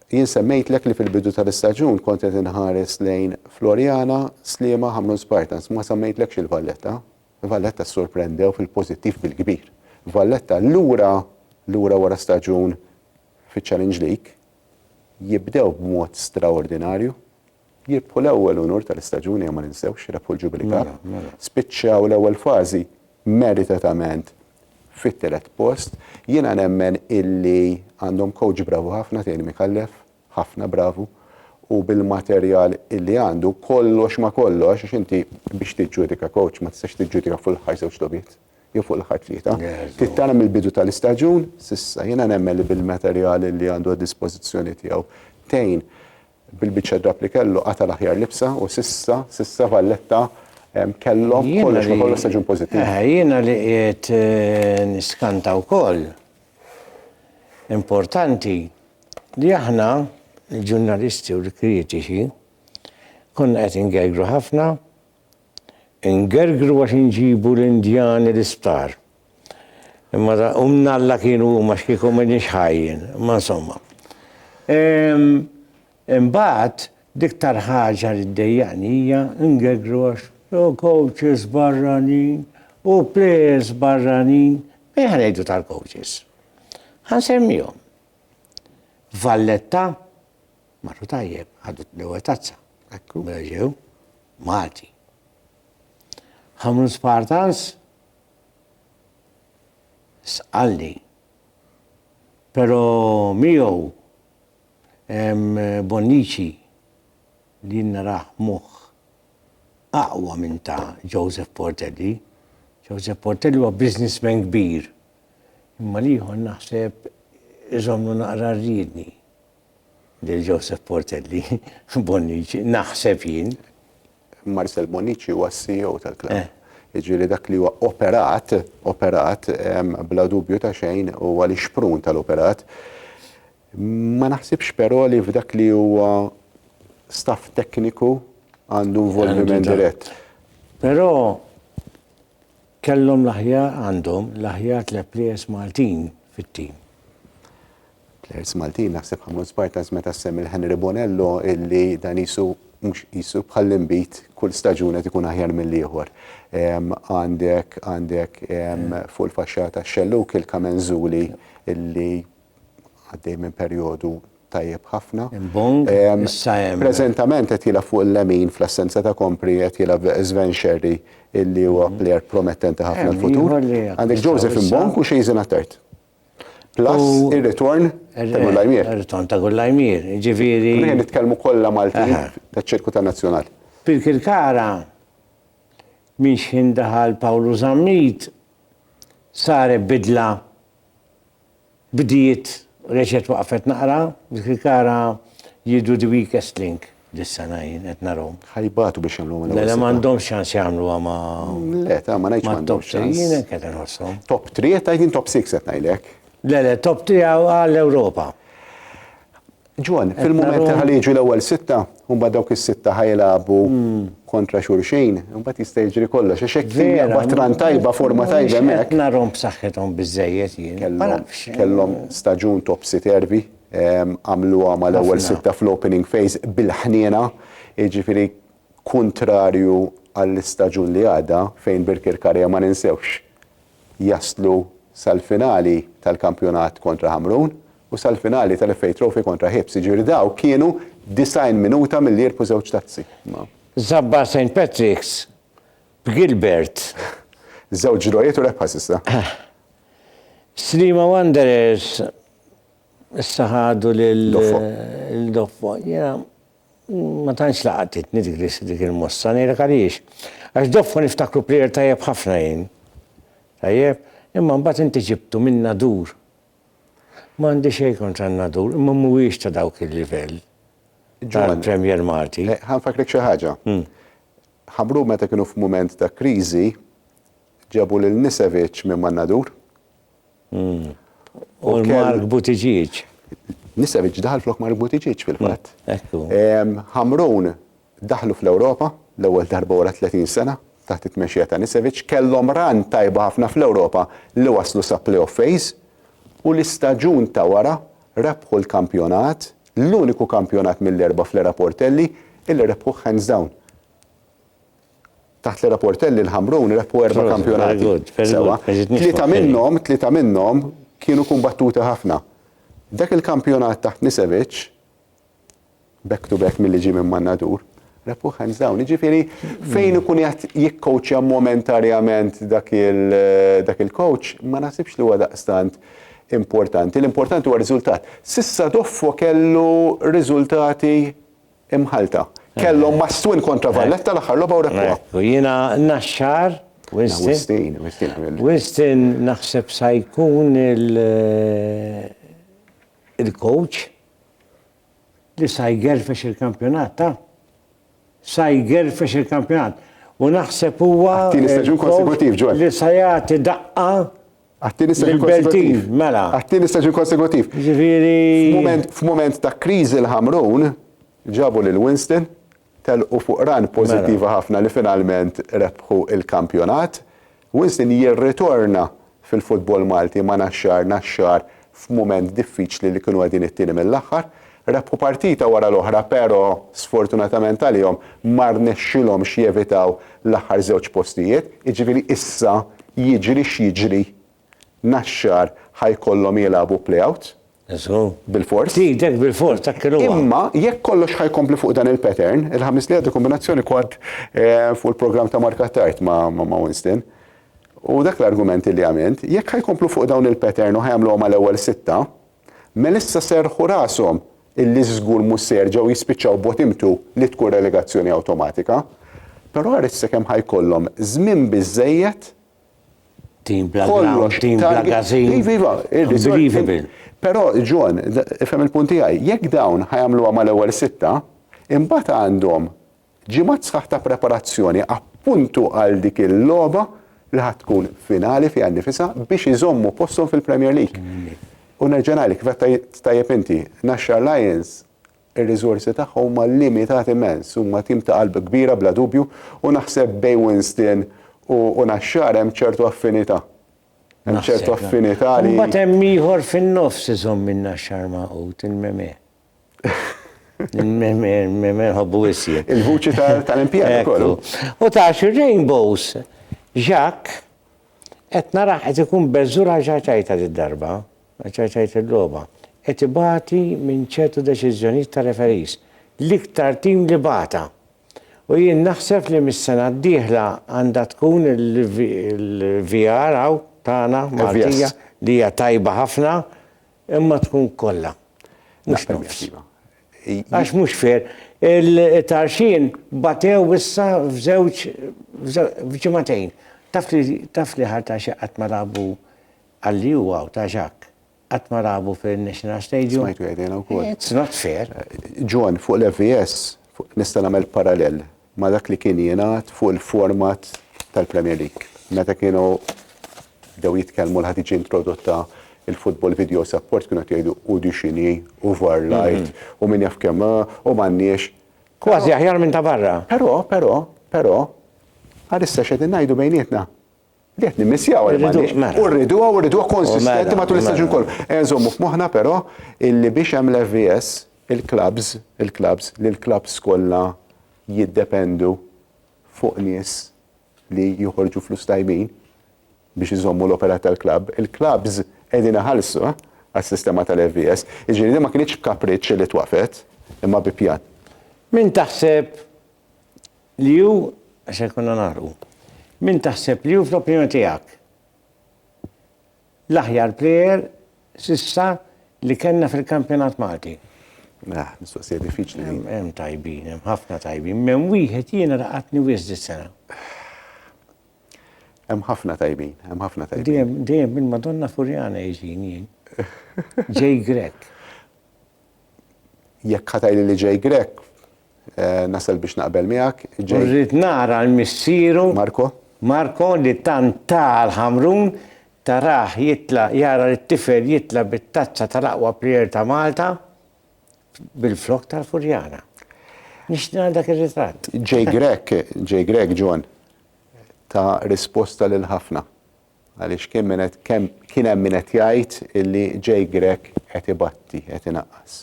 jien semmejtlek li fil-bidu tal-istaġun kont qed inħares lejn Floriana, Sliema, Ħamrun Spartans, ma semmejtlekx il-Valletta. Valletta ssorprendew fil-pożittiv bil-kbir. Valletta lura lura wara staġun fiċ-Challenge League, jibdew b'mod straordinarju, jirbħu l-ewwel unur tal-istaġun ejja ma ninsewx, rebħu l-Jubilee Cup, spiċċaw l-ewwel fażi meritatament fit-tielet post. Jiena nemmen illi għandhom coach bravu ħafna Thierry Micallef, ħafna bravu u bil-materjal illi għandu kollox ma kollox għax inti biex tiġġudika coach ma tistax tiġġudika fuq l-aħħar żewġ logħbiet jew fuq l-aħħar tlieta. Trid tara mill-bidu tal-istaġun s'issa jiena nemmen li bil-materjal illi għandu għad-dispożizzjoni tiegħu tgħin bil-biċċa drapp li kellu qata' l-aħjar libsa u s'issa, s'issa Valletta kellhom kollox ma kollox staġun pożittiv. Jiena li qiegħed niskanta wkoll Importanti li aħna, il-ġurnalisti u l-kritiċi, konna qed ingergru ħafna, ingergru għax inġibu l-Indjani l-isptar. Imma da, u mnalla kienu huma x'kieku m'għedniex ħajjin, imma insomma. Ehm, Imbagħad, l-iktar ħaġa li ddejjaqni hija ngeggrox u coaches barranin u players barranin, min ħa ngħidu tal-coaches? Ħa nsemmihom. Valletta, marru tajjeb, ħadu l-ewwel tazza. Ekku. Mela ġew Malti. Ħamrun Spartans, sqalli. Però miegħu Hemm Bonnici li jien narah moħħ aqwa minn ta' Joseph Portelli. Joseph Portelli huwa businessman kbir, imma l-ieħor naħseb iżommlu naqra r-riedni lil Joseph Portelli, Bonnici, naħseb jien. Marcel Bonnici huwa s-CEO tal-klabb. Jiġifieri dak li huwa operat, operat, bla dubju ta' xejn huwa l-ixprun tal-operat. Ma naħsibx però li f'dak li huwa staff tekniku għandu involviment dirett. Però kellhom l-aħjar għandhom l-aħjar tliet plejers Maltin fit-tim. Plejers Maltin naħseb ħammur Spartans meta semm il-Henry Bonello illi dan isu mhux isu bħal imbit kull staġun qed ikun aħjar mill-ieħor. Għandek għandek fuq il-faxxata xelluk il-Kamenzuli illi għaddej minn perjodu tajjeb ħafna. Imbong, ehm, issa hemm. Preżentament qed jilgħab fuq il-lemin fl-assenza ta' kompri qed jilgħab Sven Sherry illi huwa mm. plejer promettenti ħafna l-futur. Għandek Joseph Imbong u Xejzin Attert. Plus ir-ritorn ta' Gullajmir. Ir-ritorn ta' Gullajmir, ġifieri. Rien nitkellmu kollha Maltin taċ-ċirku ta' nazzjonal. Pirkirkara minn xħin daħal Pawlu Zammit sare bidla Bdiet u reġgħet waqfet naqra, dik il-kara jidhru the weakest link dis-sena jien qed narahom. Ħa jbatu biex jagħmluhom il-ewwel sitta. Mela m'għandhomx ċans jagħmluha ma' Le, ta' ma ngħidx m'għandhomx ċans. Mat-top 3 jien hekk qed inħosshom. Top 3 qed tgħid jien top 6 qed ngħidlek. Le, le, top 3 għall-Ewropa. Ġwan, fil-mument li ħalli jiġu l-ewwel sitta, mbagħad dawk is-sitta ħajlagħbu hmm. kontra xulxin, mbagħad jista' jiġri kollox. Għax hekk kien batran tajba, forma tajba hemmhekk. Narhom b'saħħithom biżejjed jien. Kellhom staġun topsy tervi, ehm, għamluha mal-ewwel sitta fl-opening phase bil-ħniena, jiġifieri kuntrarju għall-istaġun li għadha fejn Birkir Karja ma ninsewx jaslu sal-finali tal-kampjonat kontra Ħamrun u sal-finali tal-FA Trophy kontra Hibs, jiġifieri dawk kienu 90 minuta milli jirbħu żewġ tazzi. Ma. Żabbar Saint Patrick's b'Gilbert. Żewġ drawiet u rebħa s'issa. Sliema Wanderers issa ħadu lil. Doffo. Doffo, jiena. Ma tantx laqatitni dik li dik il-mossa, ngħidlek għaliex. Għax doffa niftakru plejer tajjeb ħafna jien. Tajjeb? Imma mbagħad inti ġibtu minn Nadur. M'għandi xejn kontra n-Nadur, imma mhuwiex ta' dawk il-livell tal-Premier Malti. Eh, ħa nfakkrek xi ħaġa. Hmm. Ħabru meta kienu f'mument ta' kriżi ġabu lil Nisevic minn man Nadur. Hmm. U Mark Buttigieg. Nisevic daħal flok Mark Buttigieg fil-fatt. Hmm, Hamrun daħlu fl-Ewropa l-ewwel darba wara 30 sena taħt it-tmexxija ta' Nisevic kellhom ran tajba ħafna fl-Ewropa li waslu sa playoff phase u l-istaġun ta' wara rebħu l-kampjonat, l-uniku kampjonat mill-erba' fl-era Portelli illi rebħuh hands down. Taħt l-era-Portelli l-Ħamrun rebħu erba' kampjonati. Sewwa. Tlieta minnhom, tlieta minnhom kienu kumbattuti ħafna. Dak il-kampjonat taħt Nisevic, back to back milli ġie minn Mannadur, rebħuh hands down. Jiġifieri fejn ikun qiegħed jikkowċja momentarjament dak il-coach, ma naħsibx li huwa daqstant importanti. L-importanti huwa r-riżultat. S'issa Doffo kellu riżultati Imħallta. Kellhom Mastwin kontra Valletta l-aħħar logħba u rebħuha. Ekku, jiena Naxxar, Wistin. Wistin naħseb sa jkun il-coach li sa jgerfex il-kampjonat ta' sa jgerfex il-kampjonat. U naħseb huwa li sa jagħti daqqa Għat-tieni staġun konsekutiv. Mela. Għat-tieni staġun konsekutiv. Ġifieri. F'mument ta' kriżi l-Ħamrun ġabu lil Winston, telqu fuq ran mela. pożittiva ħafna li finalment rebħu l-kampjonat. Winston jirritorna fil-futbol Malti ma' Naxxar, Naxxar f'mument diffiċli li kienu qegħdin it-tieni mill-aħħar. Rebħu partita wara l-oħra pero sfortunatament għalihom ma rnexxilhomx jevitaw l-aħħar żewġ postijiet. Jiġifieri issa jiġri x'jiġri Naxxar ħa jkollhom jilagħbu play-out. Żgur. Bilfors. Tgħidek bilfors dak kien huwa. Imma jekk kollox ħa jkompli fuq dan il-pattern, il-Ħamis li għaddu kombinazzjoni kont fuq il-programm ta' Mark Attard ma' Winston. U dak l-argument li għamilt, jekk ħa jkomplu fuq dawn il-pattern u ħa jagħmluha mal-ewwel sitta, mela issa serrħu rashom illi żgur mhux se jerġgħu jispiċċaw bottom two li tkun relegazzjoni awtomatika. Però ara issa kemm ħa jkollhom żmien biżżejjed Team bla ground, team bla gazin. Iva, iva. Unbelievable. Però, John, ifhem il-punt tiegħi, jekk dawn ħa jagħmluha mal-ewwel sitta, imbagħad għandhom Ġimgħat sħaħ ta' preparazzjoni appuntu għal dik il-logħba li ħadd tkun finali fiha nnifisha biex iżommu posthom fil-Premier League. U nerġa' ngħidlek kif qed tajjeb inti, Naxxar Lions ir-riżorsi tagħha huma limitati immens, huma tim ta' qalb kbira bla dubju u naħseb bejn Winston u Naxxar hemm ċertu affinità. Hemm ċertu affinità li. Imbagħad hemm ieħor fin-nofs iżomm in-Naxxar magħqud, il-Memè. Menħobbu wissi. Il-vuċi tal-impjana kollu. U tax il-rainbows, ġak, et naraħ et ikun bezzura ġaċajta di darba, ġaċajta d-loba, et ibati minn ċertu deċizjoniet ta' referis, l-iktar tim li bata. U jien naħseb li mis-sena d-dieħla għandha tkun il-VR għaw tagħna Maltija li hija tajba ħafna Imma tkun kollha. Mhux nofs. Iva. Għax mhux fair. Il-tarxin batew issa f'żewġ f'ġimagħtejn. Taf li taf li ħar ta' xi qatt ma labu għalli huwa ta' ġak. Qatt ma labu fil-National Stadium. Smajtu jgħidilha wkoll. It's not fair. John, fuq l-FVS, nista' nagħmel parallel. ma' dak li kien jingħad fuq il-format tal-Premier League. Meta kienu bdew jitkellmu li ħa tiġi introdotta il-football video support kienu qed jgħidu u di x'inhi u var l-art u min jaf kemm u m'għandniex. Kważi aħjar minn ta' barra. Però, però, però, għalissa x'qegħdin ngħidu bejnietna? Qed nimmissjaw għal Malix mela. u rriduha u rriduha konsistenti mela, matul l-istaġun mela. kollu. E nżommu f'moħħna però illi biex hemm l-FVS il-klabs, il-klabs li l-klabs kollha jiddependu fuq nies li joħorġu flus tajbin biex iżommu l-opera tal-klab. Il-klabs qegħdin iħallsu eh, għas-sistema tal-FVS. Iġifieri ma kienx b'kapriċċ li twafet imma bi pjan. Min taħseb Li hu, se jkollna nagħrfu. Min taħseb li hu fl-opinjoni tiegħek l-aħjar plejer s'issa li kellna fil-kampjonat Malti? Mela, mistoqsija diffiċli din. Hemm hemm tajbin, hemm ħafna tajbin. M'hemm wieħed jiena laqatni wisq dis-sena. Hemm ħafna tajbin, hemm ħafna tajbin. Dejjem dejjem minn Madonna Furjana jiġini jien. Jay Grech. Jekk ħa tgħidli li Jay Grech, Nasal biex naqbel miegħek. U rrid nara l-missieru. Marco. Marco li tant ta għal Ħamrun, tarah jitla' jara lit-tifel jitla' bit-tazza tal-aqwa plejer ta' Malta bil-flokk tal-Furjana. Nixtieq nara dak ir-ritratt. J. Grech, J. Grech, John, ta risposta lil ħafna. Għaliex kien min qed kemm kien hemm min qed jgħid illi Jake Grech qed ibatti, qed inaqqas.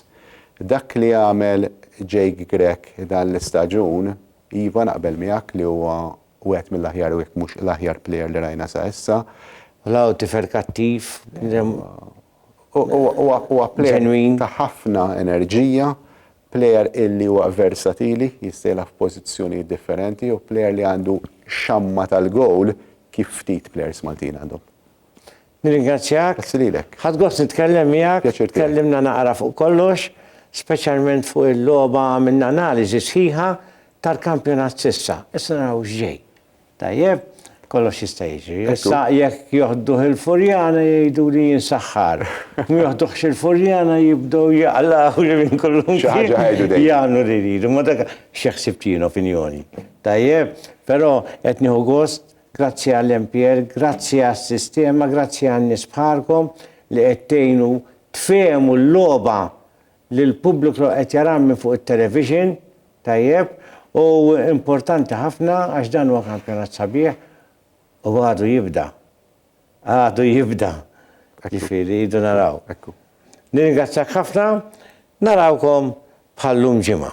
Dak li għamel Jake Grech dan l-istaġun, iva naqbel miegħek li huwa wieħed mill-aħjar u jekk mhux l-aħjar plejer li rajna sa issa. L-għawdxi ferkattiv. Huwa plejer ta' ħafna enerġija, plejer illi huwa versatili, jista' jilgħab f'pożizzjonijiet differenti u plejer li għandu xamma tal-gowl kif ftit plejers Maltin għandhom. Nirringrazzjak. Grazzi lilek. Ħadt gost nitkellem miegħek. Pjaċir tiegħi. Tkellimna naqra fuq kollox, speċjalment fuq il-logħba għamilna analiżi sħiħa tal-kampjonat s'issa. Issa naraw x'ġej. Tajjeb, kollox jista' jiġri. Issa jekk joħduh il-furjana jgħiduli jien saħħar. U ma joħduhx il-furjana jibdew jaqlgħuli minn kullimkien. Xi ħaġa jgħidu dejjem. Jagħmlu li jridu. Ma dak xi ħsibt jien opinjoni. Tajjeb? Però qed nieħu gost, grazzi għall-MPL, grazzi għas-sistema, grazzi għan-nies bħalkom li qed tgħinu tfehmu l-logħba li l-pubbliku qed jarah minn fuq it-television tajjeb u importanti ħafna għax dan huwa kampjonat sabiħ u għadu jibda. Għadu jibda. Jiġifieri rridu naraw. Nirringrazzjak ħafna, narawkom bħal llum ġimgħa.